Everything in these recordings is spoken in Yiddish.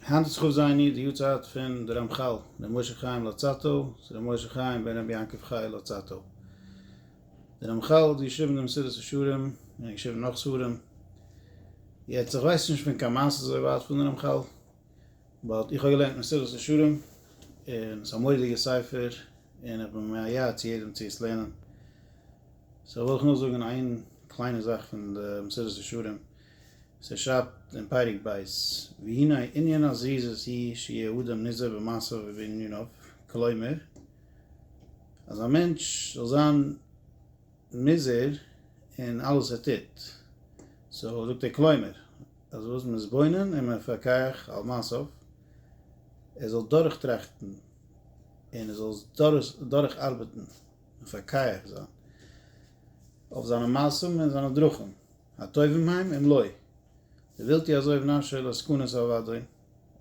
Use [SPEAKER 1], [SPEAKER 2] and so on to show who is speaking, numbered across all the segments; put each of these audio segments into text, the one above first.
[SPEAKER 1] היינט האט זיך אויפזייענירט די יארצייט פון די רמחל ר' משה חיים לוצאטו צו ר' משה חיים בן רבי יעקב חי' לוצאטו. די רמחל האט געשריבן די מסילת ישרים און ער האט געשריבן נאך ספרים. יעצט איך ווייס נישט פון קיין מעשה אזוי ווייט פון די רמחל, באט איך האב געלערנט מסילת ישרים און ס'איז א מורא'דיגע ספר און איך בין מייעץ צו יעדעם צו עס לערנען. סאו וויל איך נאר זאגן איין קליינע זאך פון די מסילת ישרים. ס'שרייבט אין פרק ב', והנה ענין הזריזות היא שיהיה אדם נזהר במעשיו ובעניניו, כלומר, אז א מענטש זאל זיין נזהר אין אלעס וואס ער טוט, סאו זאגט ער כלומר, אז וואס מתבונן ומפקח על מעשיו, ער זאל דורכטראכטן און ער זאל עס דורכארבעטן, מפקח זיין, אויף זיינע מעשים און זיינע דרכים. הטובים הם אם לא ווילטי אזוי ונפשי על הסכנות אוודאי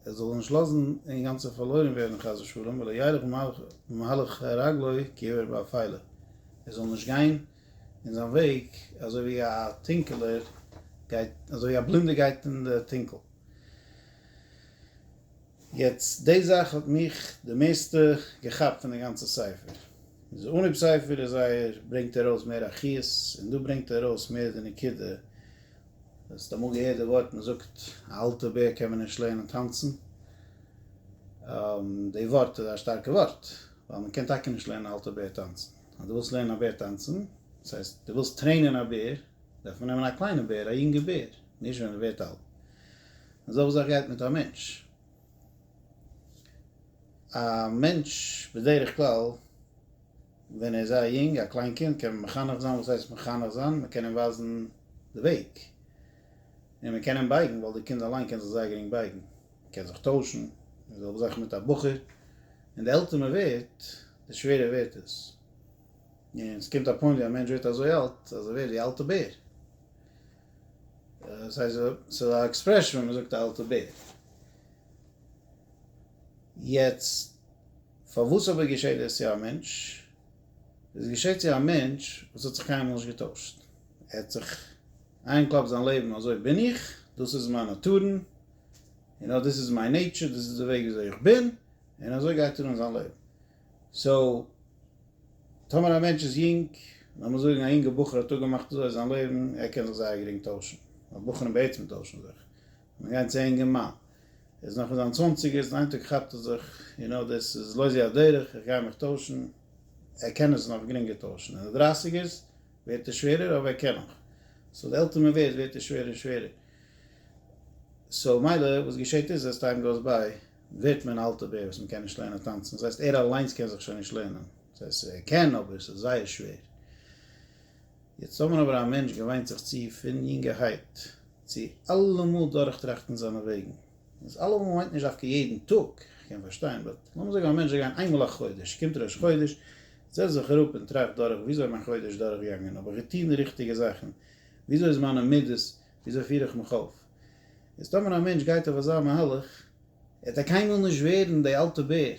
[SPEAKER 1] ער זאל זיך נישט לאזן אינגאנצען פארלוירן ווערן חס ושלום ולא ילך במהלך רגלו כעיוור באפילה ער זאל נישט גיין אין זיין וועג אזוי ווי א טונקעלער גייט אזוי ווי א בלינדער גייט אין די טונקל. יעצט די זאך האט מיך די מערסטע געכאפט פון די גאנצע ספר. אין די אנהויב ספר איז זייער ברענגט ער ארויס מער א חיות און דא ברענגט ער ארויס מער די נקודה. האסט אמאל געהערט די ווארט מען זאגט א אלטע בער קען מען נישט לערנען טאנצן? די ווארט איז א שטארקע ווארט ווייל מען קען טאקע נישט לערנען א אלטע בער טאנצן. אז די ווילסט לערנען א בער טאנצן דאס הייסט די ווילסט טרעינען א בער דארף מען נעמען א קליינע בער א יונגע בער. נישט ווען מען ווערט אלט. און אזעלכע זאך גייט מיט א מענטש. א מענטש בדרך כלל ווען ער איז זייער יונג, א קליין קינד, קען מען מחנך זיין, וואס הייסט מחנך זיין? מען קען אים ווייזן די וועג. און מען קען אים בייגן, ווייל די קינד אליין קען זיך זייער גרינג בייגן. מען קען זיך טוישן, און אזעלכע זאכן מיט א בחור. און די עלטער מען ווערט, די שווערער ווערט עס. און ס'קומט א פוינט ווי א מענטש ווערט אזוי אלט, אז ער ווערט ווי א אלטע בער. דאס הייסט ס'איז א עקספרעשאן ווען מ'זאגט א אלטע בער. יעצט פארוואס אבער געשעט דאס צו א מענטש? דאס געשעט צו א מענטש וואס האט זיך קיינמאל נישט געטוישט. ער האט זיך איינגעקלאפט זיין לעבן אזוי בין איך, דאס איז מיין נאטורן, און אט דאס איז מיין נעיטשור, דאס איז די וועג וויאזוי איך בין, און אזוי גייט ער אן זיין לעבן. סאו, טאמער א מענטש איז יונג, לאמיר זאגן א יונגע בחור האט אפגעמאכט אזוי זיין לעבן, ער קען זיך זייער גרינג טוישן, ווייל בחורים בעצם טוישן זיך, מען גייט צו אינגער מאן, ער איז נאך אין זיין צוואנציגערס, איין טאג כאפט ער זיך, יו נאו דעס איז לא זו הדרך, איך גיי מיך טוישן, ער קען עס נאך גרינגער טוישן, אין די דרייסיגערס ווערט ער שווערער, אבער ער קען נאך, סאו די עלטער מען ווערט, ווערט ער שווערער און שווערער, סאו מילא וואס געשעט איז עס טיים גאוס ביי. ווערט מען אלט אבער וואס מ'קען נישט לערנען טאנצן, דאס הייסט ער אליינס קען זיך שוין נישט לערנען, דאס הייסט ער קען אבער ס'איז זייער שווער, יעצט טאמער אבער א מענטש געוויינט זיך צו פון יונגערהייט צו אלעמאל דורכטראכטן זיינע וועגן, דאס אלעמאל מיינט נישט דווקא יעדן טאג, כ'קען פארשטיין, באט לאמיר זאגן א מענטש זאל גיין איינמאל א חודש, קומט ראש חודש, זעצט זיך אראפ און טראכט דורך וויאזוי איז מיין חודש דורכגעגאנגען, האב איך געטון די ריכטיגע זאכן, וויאזוי איז מיינע מידות, וויאזוי פיר איך מיך אויף? איז טאמער א מענטש גייט אויף אזא מהלך, עט ער קיינמאל נישט ווערן די אלטע בער,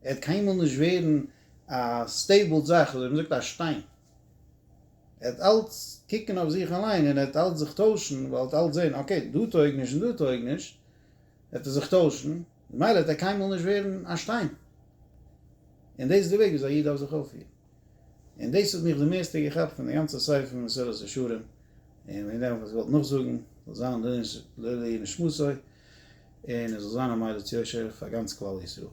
[SPEAKER 1] ער עט קיינמאל נישט ווערן א סטעיבלד זאך, אזוי ווי מען זאגט א שטיין, ער עט אלץ קוקן אויף זיך אליין און ער עט אלץ זיך טוישן, ווייל ער עט אלץ זען אקעי דא טויג נישט און דא טויג נישט, עט ער זיך טוישן, ממילא עט ער קיינמאל נישט ווערן א שטיין, און דאס איז די וועג וויאזוי א איד דארף זיך אויפפירן. און דאס האט מיך די מערסטע געכאפט פון די גאנצע ספר פון מסילת ישרים, און וועגן דעם האב איך עס געוואלט נאכזאגן, זאל זיין לעילוי נשמתו, און עס זאל זיין א מליץ יושר פאר גאנץ כלל ישראל.